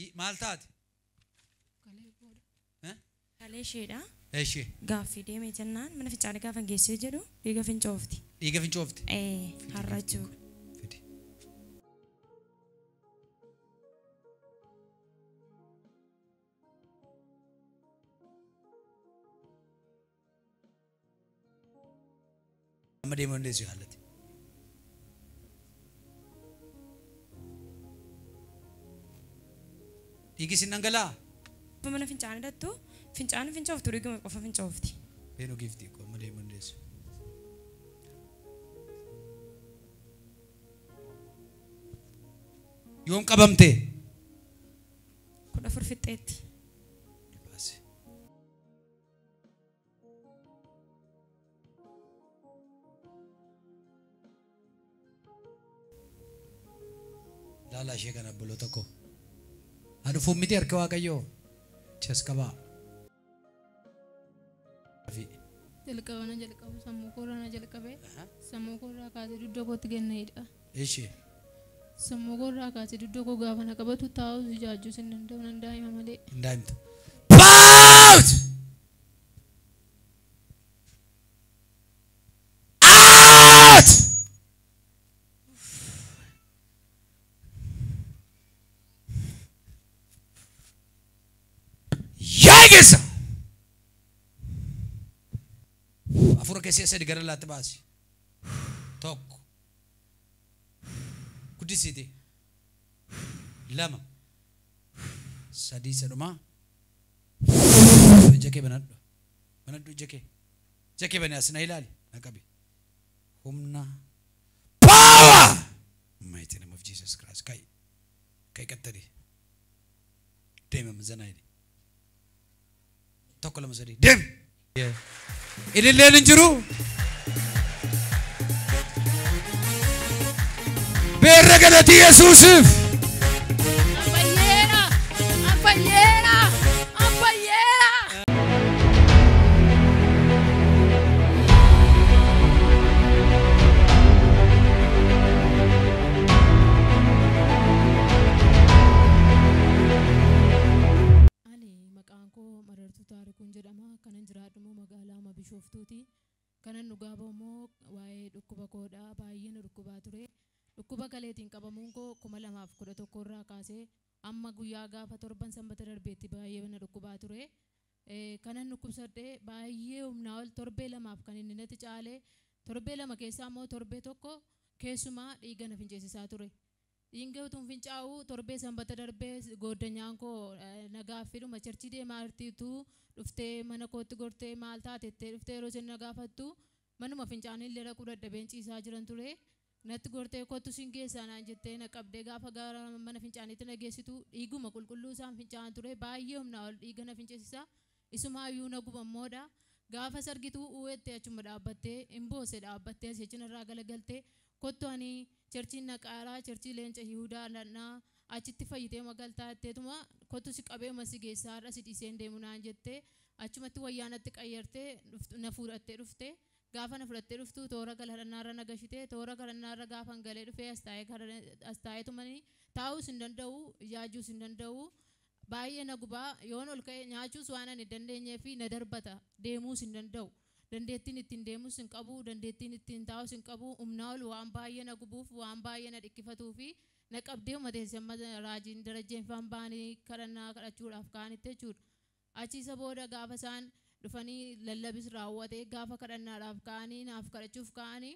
I- Maal taate? Eh? Kalee isheedha. Eshi Gaaffii deemee jennaan mana fincaanii gaafa geessee jedhu dhiiga fincoofti. dhiiga fincoofte. Ee har'a jechuudha. amma deemuu dandeessu yaallatti. Dhiigi sin dhangala'aa? Yoo mana fincaanii dhattu fincaan fincooftu dhiiguma qofa fincoofti. Beenuu giiftii koo amma deemuu dandeessu. Yoom qabamte? kudha afur fixxeetti. Laalaa ishee kana obboloota koo. Haa dhufuuf miti harka Waaqayyoo. Chas qabaa. jalqaba na jalqabu sammuu koorraa na jalqabe sammuu koorraa kaasee dugda kootti gad na hidha Ishi. sammuu koorraa kaasee dugda koo gaafa na qabatu taa'us ijaajjus hin danda'u nan daa'ima malee Hin daa'imtu. Paawus! Aat! Yaa keessa. Afura keessee sadi gara laatti baasi. Tokko. Guddisiiti. Lama. Sadii sadhumaa. Ija kee banadhu. Banadhu ija kee. Ija kee bani as na ilaali. Na qabi. Humna. Power! Mighty name of Jesus Christ. Kai. Kai qattadii. deemama zanaa jedhe tokko lama sadii deemi ililleen hin jiru beerra galatii yesuusiif Ani maqaan koo Marartuu Taarikuun jedhama. Kanan jiraadhu immoo magaalaa Ama Bishooftuuti. Kanan dhugaa bahu immoo waa'ee dhukkuba koodha. Baay'een dhukkubaa ture. Dhukkuba kaleetiin qabamuun koo kuma lamaaf kudha tokko irraa kaasee Amma guyyaa gaafa torban sanbata darbeetti baay'ee na dhukkubaa ture. Kanan dhukkubsadhe baay'ee humnaa ol torbee lamaaf kan inni natti caale. Torbee lama keessaa immoo torbee tokko keessumaa dhiiga na finceessisaa ture. Dhiinga utuun fincaa'uu torbee sanbata darbee gooddanyaan koo na gaaffiidhuma charchii deemaa jirti utuu dhuftee mana kootti gortee maal taate jettee dhuftee yeroo isheen na gaafattu manuma fincaanii illee dhaquu dadhabeen ciisaa jiran ture. Natti gortee kottu sin geessaa naan jettee na qabdee gaafa gara mana fincaaniitti na geessitu dhiiguma qulqulluu isaan fincaa'an ture baay'ee humnaa ol dhiiga na fincisiisa isumaayyuu na guba moodha gaafas argitu uuettee achuma dhaabbattee in boosse dhaabbattee asii achi narraa galagalte kottu ani cherchiin naqaara cherchii leenca yihudaa dhaqnaa achitti fayyiteema galtaa jetteetuma kottu si qabeema si geessaa har'a si dhiiseen deemu naan jette achumatti wayyaa natti qayyartee na fuudhattee dhufte Gaafa na fudhattee dhuftu toora galhadhannaarra na gashite. Toora galhadhannaarra gaafan galee dhufee as taa'ee galhadha as taa'eetumani taa'uus hin danda'u, ijaajjuus hin danda'u. Baay'ee na guba. Yoon ol ka'e nyaachuus waan ani hin dandeenyeefi na darbata. Deemuus hin danda'u. Dandeettiin ittiin deemus hin qabu, dandeettiin ittiin taa'us hin qabu. Humnaa ol waan baay'ee na gubuuf, waan baay'ee na dhikkifatuufi na qabdeetuma teessi amma Raajiin Darajjeenfaan ba'anii kadhannaa kadhachuudhaaf ka'anitti jechuudha. Achi isa booda gaafa isaan dhufanii lallabis raawwate gaafa kadhannaadhaaf ka'anii naaf kadhachuuf ka'anii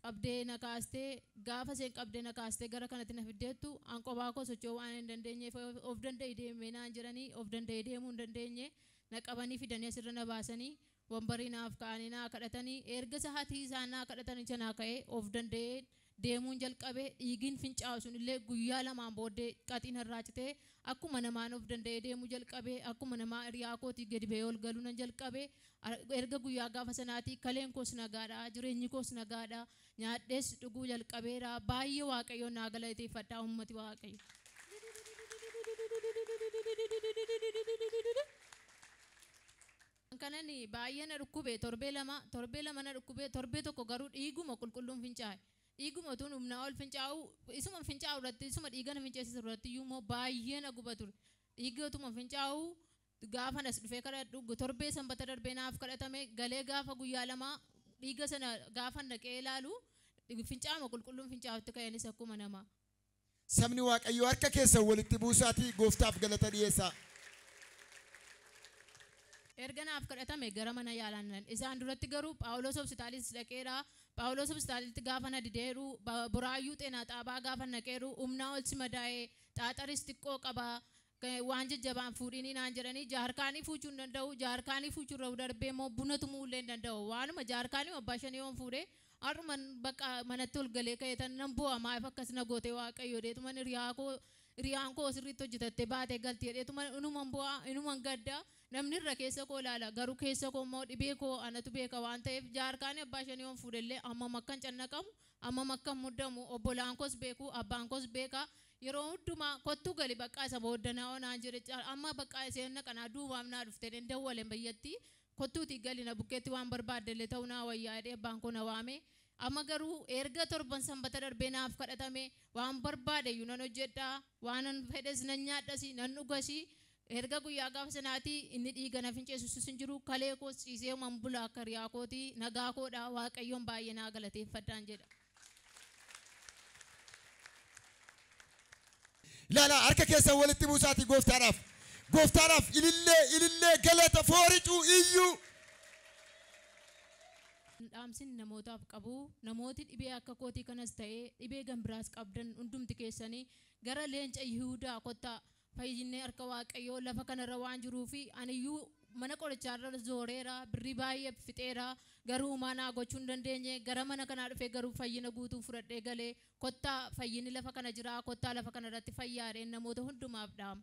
qabdee na kaaste gaafa isheen qabdee na kaaste gara kanatti na fiddeettu an qophaa koo socho'uu waan hin dandeenyeef of danda'i deemi naan jedhanii of danda'ee deemuu hin dandeenye na qabanii fidanii asirra na baasanii Wambarii naaf ka'anii naa kadhatani eerga sahatii isaan naa kadhatani chanaa ka'ee of danda'een deemuun jalqabe dhiigiin fincaa'u sun illee guyyaa lamaan booddee qaxii narraa citee akkuma namaan of danda'ee deemuu jalqabe akkuma namaa hiriyaa kootii gadi ba'ee ol galuu nan jalqabe erga guyyaa gaafa sanaatii kaleen koos nagaadha jireenyi koos nagaadha nyaadhees dhuguu jalqabeera baay'ee waaqayyoon naa galateeffadha uummati waaqayyo. An kanan baay'ee na dhukkube torbee lama, torbee lama na dhukkubee torbee tokko garuu dhiiguma qulqulluun fincaa'e. Dhiiguma utuun humnaa ol fincaa'uu, isuman fincaa'u irratti, isuma dhiiga na finceessisu irratti iyyuu immoo baay'ee na guba ture. Dhiigga utuma fincaa'uu gaafan as dhufee kadhadhu, torbee sanbata darbee naaf kadhatame, galee gaafa guyyaa lamaa dhiiga sana gaafan dhaqee ilaalu fincaa'uma qulqulluun fincaa'utti ka'eenis akkuma namaa. Sabni Waaqayyoo harka keessan walitti buusaatii Gooftaaf galata dhi'eessaa. Erga naaf kadhatamee gara mana yaalaa nan dhaqe. Isaan duratti garuu Phaawulos Hopsitaaliis dhaqeera. Phaawulos Hopsitaalitti gaafa na dideeru, Buraayyuu Xeenaa Xaabaa gaafan dhaqeeru, humnaa ol si madaa'e, xaaxaris xiqqoo qaba, waan jajjabaa hin fuudhiinii naan jedhanii jaarkaanii fuuchuu hin danda'u jaarkaanii fuuchuu irra darbee immoo buna tumuu illee hin danda'u waanuma jaarkaanii abbaa shanii yoon fuudhe har'uman bakka manatti ol galee ka'eetan nan boo'a maaf akkas na goote waaqayyo jedheetuman hiriyaa koo hiriyaan koo sirriitti hojjetattee baatee galti jedheetuman inuman boo'a inuman gadda namni irra keessa koo ilaala garuu keessa koo immoo dhibee koo anatu beeka waan ta'eef jaarkaanii abbaa shanii yoon fuudhe illee hammam akkan cannaqamu Ammam akkan muddamu obbolaan koos beeku, abbaan koos beeka. Yeroo hundumaa kottu gali baqqaa isa booda na onaa jedhe caal amma baqqaa iseen na qanaa duubaaf naa dhufte jedheen dawwalen bayyatti kottuutii gali na bukkeetti waan barbaadde illee ta'uu naa wayyaa jedhee abbaan koo na waame. Amma garuu eerga torban sanbata darbee naaf kadhatame waan barbaade iyyuu nan hojjedha, waanan fedhes nan nyaadhasi, nan dhugasi, Erga guyyaa gaafa sanaatii inni dhiiga na finceessu usus hin jiru, kalee koos ciiseeman bula akka hiriyaa kooti, nagaa koo dha, Waaqayyoon baay'ee naa galateeffadhaan jedha. Ilaalaa, harka keessan walitti buusaatii Gooftaadhaaf, Gooftaadhaaf ilillee, ilillee, galata, fooricuu, iyyuu. Dhaamsin namootaaf qabu, namooti dhibee akka kootii kanas ta'ee dhibee gan biraas qabdan hundumti keessanii gara Leenca Yihuudaa kottaa, Fayyinni harka Waaqayyoo lafa kanarra waan jiruuf aniyyuu mana qorichaarra zooreera, birrii baay'ee fixeera, garuu homaa naa gochuu hin dandeenye. Gara mana kanaa dhufee garuu fayyina guutuun fudhadhee gale. Kottaa fayyinni lafa kana jira, kottaa lafa kanarratti fayyaa jedheen namoota hundumaaf dhaama.